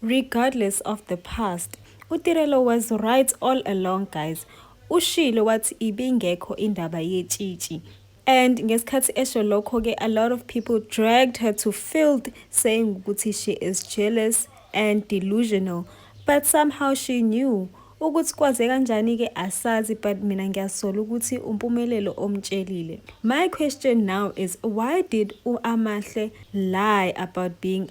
Regardless of the past, uTirelo was right all along guys. Ushilo wathi ibingekho indaba yetshitshi. And ngesikhathi esho lokho ke a lot of people dragged her to filth saying ukuthi she is jealous and delusional. But somehow she knew ukuthi kwaze kanjani ke asazi but mina ngiyasola ukuthi umpumelelo omtshelile my question now is why did uamahle lie about being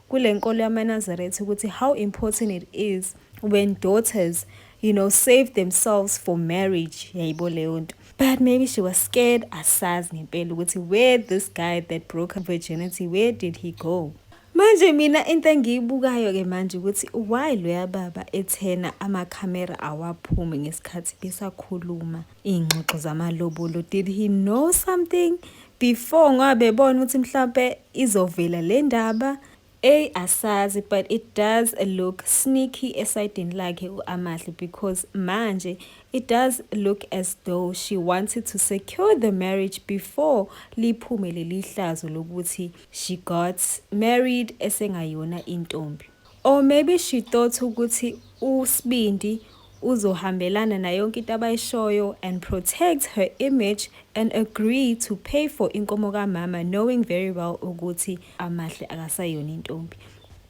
kule nkolo yamanazaretha ukuthi how important it is when daughters you know save themselves for marriage yayibo leyo nto but maybe she was scared asazi ngempela ukuthi where this guy that broke her virginity where did he go manje mina into engiyibukayo ke manje ukuthi why loya baba ethena amakhamera awaphumi ngesikhathi besakhuluma iy'ngxoxo zamalobolo did he know something before ngoba bebona ukuthi mhlawumpe izovela le ndaba eyi asazi but it does look sneaky esayidini lakhe u-amahle because manje it does look as though she wanted to secure the marriage before liphume leli hlazo lokuthi she got married esengayona intombi Or maybe she thought ukuthi uSbindi uzohambelana na yonke into abayishoyo and protect her image and agree to pay for inkomo kamama knowing very well ukuthi amahle akasayona intombi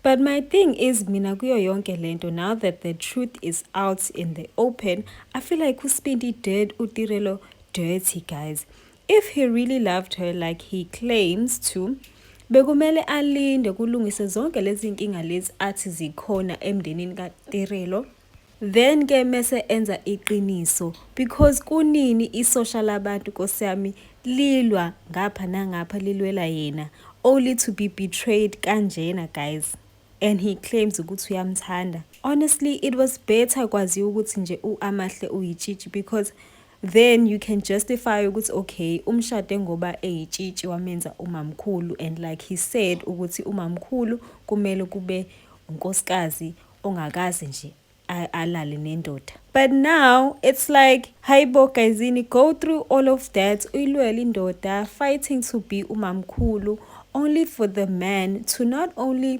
but my thing is mina kuyo yonke lento now that the truth is out in the open i feel like usibindi dead utirelo dirty guys If he really loved her like he claims to, bekumele alinde kulungise zonke lezi nkinga lezi athi zikhona emndenini kaTirelo then ke mese enza iqiniso because kunini isosha labantu Nkosi yami lilwa ngapha nangapha lilwela yena only to be betrayed kanjena guys and he claims ukuthi uyamthanda honestly it was better kwaziwa ukuthi nje uAmahle uyitshitshi because then you can justify ukuthi okay umshade ngoba eyitshitshi wamenza umamkhulu and like he said ukuthi umamkhulu kumele kube unkosikazi ongakaze nje alale nendoda but now it's like hayibo guyzini go through all of that uyilwela indoda fighting to be umamkhulu only for the man to not only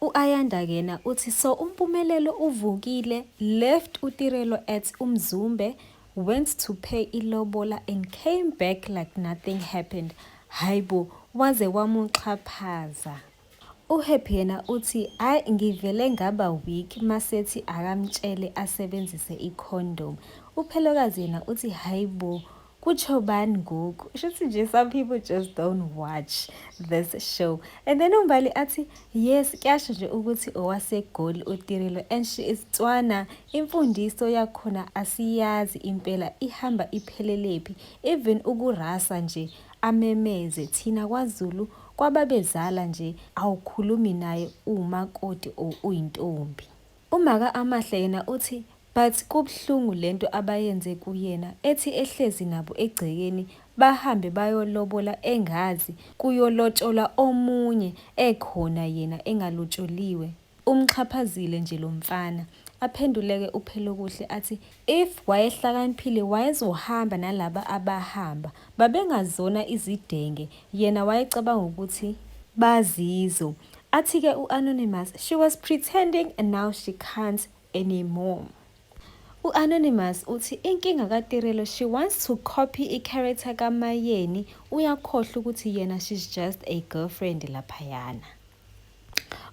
U-Ayanda kena uthi so uMpumelelo uvukile, left uTirelo at uMzumbe, went to pay ilobola and came back like nothing happened. Haibo waze wamuxhaphaza. UHappy yena uthi ay ngivele ngaba weak masethi akamtshele asebenzise icondom. UPhelokazi yena uthi haibo kutsho bani ngoku shuthi nje some people just don't watch this show and then umbali athi yes kuyasho nje ukuthi owasegoli utirilo and she is tswana imfundiso yakhona asiyazi impela ihamba iphelelephi even ukurasa nje amemeze thina kwazulu kwababezala nje awukhulumi naye umakoti or uyintombi Umaka Amahle yena uthi but kubuhlungu lento abayenze kuyena ethi ehlezi nabo egcekeni bahambe bayolobola engazi kuyolotsholwa omunye ekhona yena engalotsholiwe. Umxhaphazile nje lomfana. Aphenduleke uPhelokuhle athi If wayehlakaniphile wayezohamba nalaba abahamba babengazona izidenge yena wayecabanga ukuthi bazizo. Athike u Anonymous she was pretending and now she can't anymore. U Anonymous uthi inkinga ka Tirelo she wants to copy i character ka Mayeni uyakhohlwa ukuthi yena she's just a girlfriend laphayana.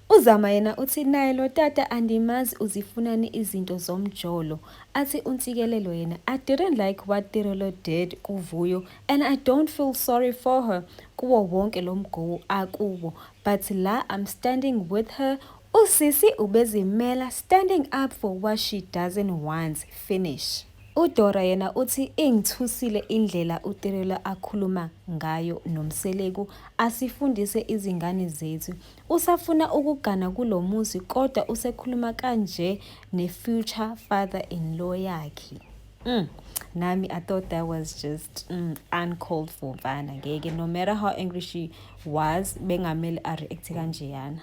UZama yena uthi naye lo tata andimazi uzifunani izinto zomjolo. Athi uNtsikelelo yena I didn't like what Tirelo did kuVuyo and I don't feel sorry for her kuwo wonke lo mgowo akubo but la I'm standing with her Usisi ubezimela standing up for what she doesn't want finish. UDora yena uthi ingithusile indlela uTirelo akhuluma ngayo noMseleku, asifundise izingane zethu. Usafuna ukugana kulo muzi kodwa usekhuluma kanje ne-future father-in-law yakhe. Mm. Nami, I thought that was just mm, uncalled for mfana ngeke no matter how angry she was bengamele areact kanjeyana.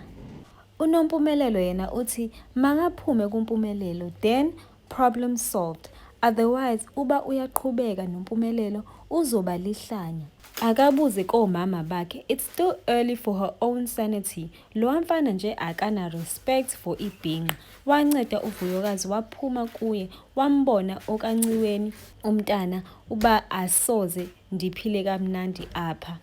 UNompumelelo yena uthi makaphume kuMpumelelo then Problem solved. Otherwise uba uyaqhubeka nompumelelo uzoba lihlanya. Akabuze komama bakhe it's still early for her own sanity. Lowa mfana nje akana respect for ibhinqa. Wanceda uvuyokazi waphuma kuye wambona okanciweni umntana uba asoze ndiphile kamnandi apha.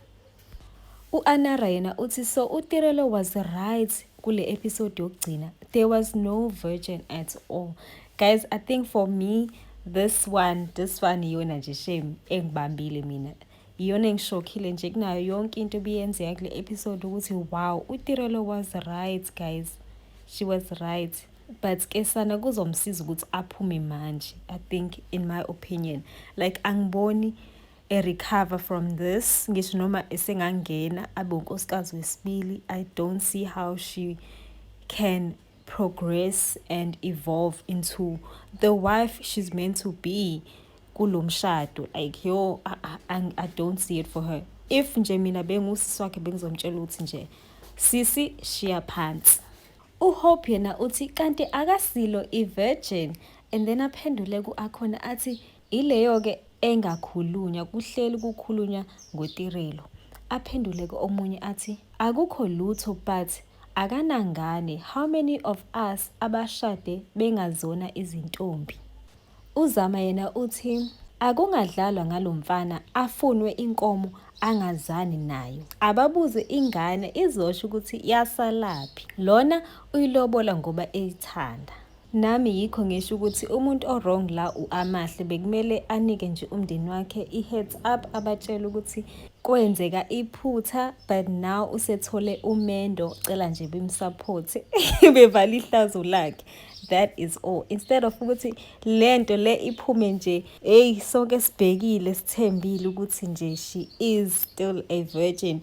U-Anara yena uthi so uTirelo was right kule episode yokugcina. There was no virgin at all. Guys, I think for me this one this one iyona nje shame engibambile mina iyona engishokhile nje kunayo yonke into ebiyenzeka kule episode ukuthi wow utirelo was right guys she was right but ke sana kuzomsiza ukuthi aphume manje i think in my opinion like angiboni erecover from this ngisho noma esengangena abe unkosikazi wesibili i don't see how she can progress and evolve into the wife she's meant to be kulo mshado like yo I, I, i don't see it for her if nje mina bengusisi wakhe bengizomtshela ukuthi nje sisi shiya phansi uhope yena uthi kanti akasilo ivirgin and then aphendule ku-akhona athi Ileyo-ke engakhulunywa, kuhleli kukhulunywa ngoTirelo. Aphenduleke omunye athi, Akukho lutho but akanangane how many of us abashade bengazona izintombi. UZama yena uthi akungadlalwa ngalo mfana afunwe inkomo angazani nayo. Ababuze ingane izosho ukuthi yasalaphi. Lona uyilobola ngoba eyithanda. Nami yikho ngisho ukuthi umuntu o-wrong la u-Amahle bekumele anike nje umndeni wakhe i-heads up abatshele ukuthi kwenzeka iphutha but now usethole umendo cela nje bimsupport bevale ihlazo lakhe that is all instead of ukuthi le nto le iphume nje eyi sonke sibhekile sithembile ukuthi nje she is still a virgin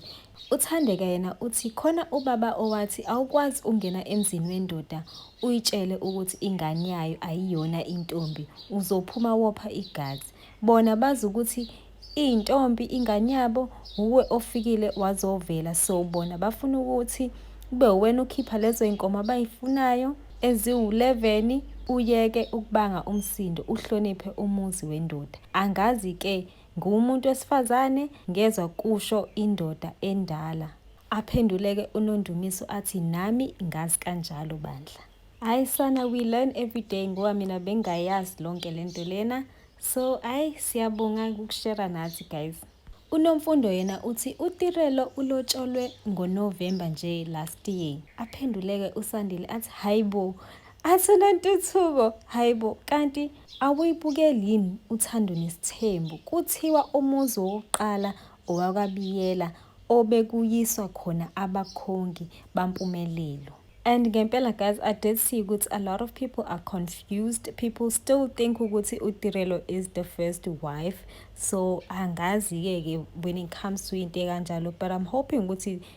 UThandeka yena uthi khona ubaba owathi awukwazi ungena emzini wendoda uyitshele ukuthi ingane yayo ayiyona intombi uzophuma wopha igazi bona bazi ukuthi iyintombi ingane yabo wuwe ofikile wazovela so bona bafuna ukuthi kube uwena ukhipha lezo iy'nkomo abayifunayo eziwu-11 uyeke ukubanga umsindo uhloniphe umuzi wendoda angazi-ke Ngiwumuntu wesifazane ngezwa kusho indoda endala. Aphenduleke uNondumiso athi nami ngazi kanjalo bandla. Hayi sana we learn every day ngoba mina bengayazi lonke lento lena. So ayi siyabonga ukushare nathi guys. UNomfundo yena uthi uTirelo ulotsholwe ngoNovember nje last year. Aphenduleke uSandile athi hayibo Asinantuthuko hayibo kanti awuyibukeli yini uthando nesithembu kuthiwa umuzi wokuqala owakabiyela obekuyiswa khona abakhongi bampumelelo And ngempela guys, I did see ukuthi a lot of people are confused. People still think ukuthi uTirelo is the first wife. So angazi-ke ke when it comes to into ekanjalo but I'm hoping ukuthi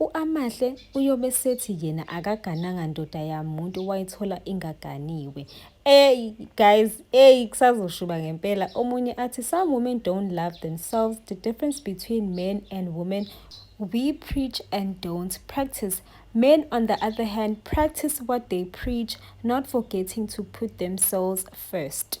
U-Amahle uyobe sethi yena akagananga ndoda yamuntu wayithola ingaganiwe. Ey guys, ey kusazoshuba ngempela. Omunye athi some women don't love themselves. The difference between men and women we preach and don't practice. Men, on the other hand, practice what they preach, not forgetting to put themselves first.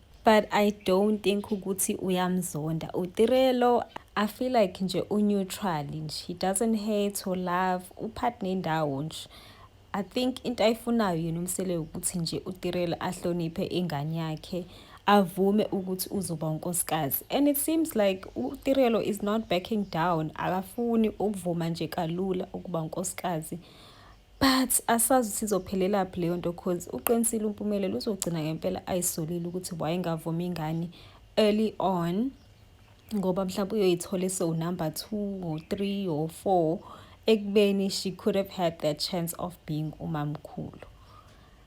but i don't think ukuthi uyamzonda utirelo i feel like nje uneutral nje he doesn't hate or love uphathi nendawo nje i think into ayifunayo yena umsele ukuthi nje utirelo ahloniphe ingane yakhe avume ukuthi uzoba unkosikazi and it seems like utirelo is not backing down akafuni ukuvuma nje kalula ukuba unkosikazi but asazi ukuthi izophelelaphi leyo nto cause uqinisile umpumelelo uzogcina ngempela ayisolile ukuthi wayengavumi ingane early on ngoba mhlawumbe uyoyithole so number two or three or four ekubeni she could have had that chance of being umamkhulu